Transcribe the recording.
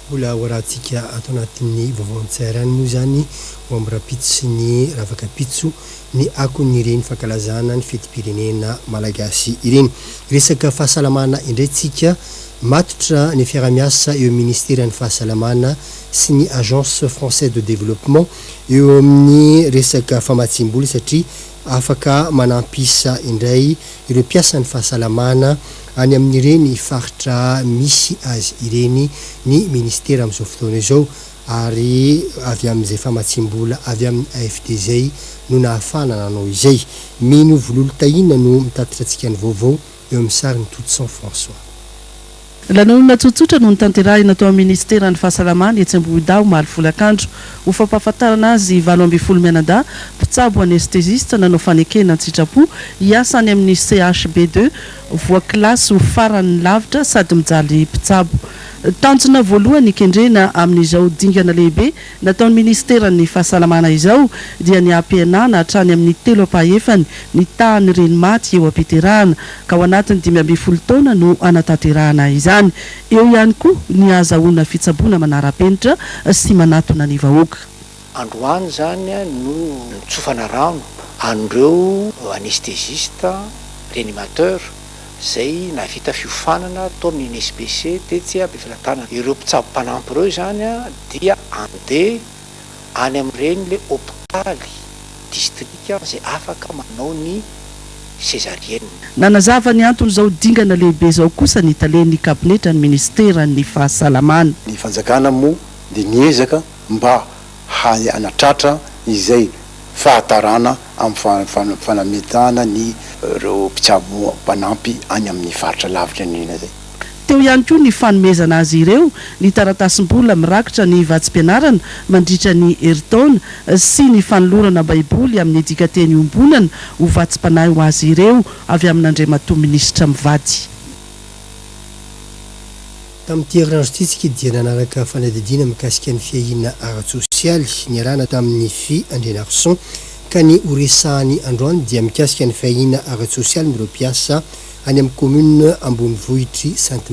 Mbola ho arahantsika ato anatin'ny vaovao an-tseharany moa izany ho amin'ny rahampitso sy ny ravakampitso ny akon'ireny fankalazana ny fetim-pirenena malagasy ireny. Resaka fahasalamana indray tsika, matotra ny fiarahamiasa eo amin'ny ministeran'ny fahasalamana sy ny Agence française de développement eo amin'ny resaka famatsiam-bola satria afaka manampy isa indray ireo mpiasan'ny fahasalamana any amin'ireny faritra misy azy ireny ny minisitera amin'izao fotoana izao ary avy amin'izay famatsiam-bola avy amin'ny AFD izay no nahafahana nanao izay. Mino Vololotahina no mitatitra antsika ny vaovao eo amin'ny sarin'i Toutson François. Lanonana tsotsotra no notanterahina tao amin'ny minisiteran'ny Fahasalamana etsy Ambohidahy omaly folakandro, ho fampahafantarana azy valo ambin'ny folo mianadahy mpitsabo anestezista nanao fanekena an-tsitrapo hiasa any amin'ny CHB deux voakilasy ho faran'ny lavitra sady mijaly mpitsabo. Tanjona voalohany ny kendrena amin'izao dingana lehibe Nataon'ny minisiteran'ny Fahasalamana izao dia ny hampihenana hatrany amin'ny telo ampahefany ny tahan'ny reny maty eo am-piterahana, ka ao anatin'ny dimy ambin'ny folo taona no hanatanterahana izany. Eo ihany koa ny hahazahoana fitsaboana manara-penitra sy manatona ny vahoaka. Androany izany no nitsofana rano an'ireo anesthésistes, réanimateurs, izay nahavita fiofanana tao amin'ny NSPC tetsy Ampefilatanana. Ireo mpitsabo mpanampy ireo izany dia andeha any amin'ireny le hopitaly distrika izay afaka manao ny sezarienina. Nanazava ny anton'izao dingana lehibe izao kosa ny talen'ny kabinetran'ny ministeran'ny Fahasalamana. Ny fanjakana moa dia miezaka mba hany hanatratra izay fahatarana amin'ny fanamitahana ny ireo mpitsabo mpanampy any amin'ny faritra lavitra indrindra izay. Teo ihany koa ny fanomezana azy ireo ny taratasim-bola mirakitra ny vatsim-pianarana mandritra ny herintaona sy ny fanolorana Baiboly amin'ny dikanteny iombonana ho vatsim-panahy ho azy ireo avy amin'Andriamatoa Minisitra mivady. Tamin'ity herinandro ity, Tsikidi dia nanaraka fanadihadiana mikasika ny fiahiana ara-tsosialy niarahana tamin'ny Fy Andrianarison, ka ny ho resahany androany dia mikasika ny fiahiana ara-tsosialin'ireo mpiasa any amin'ny Commune ambonivohitr'i Sainte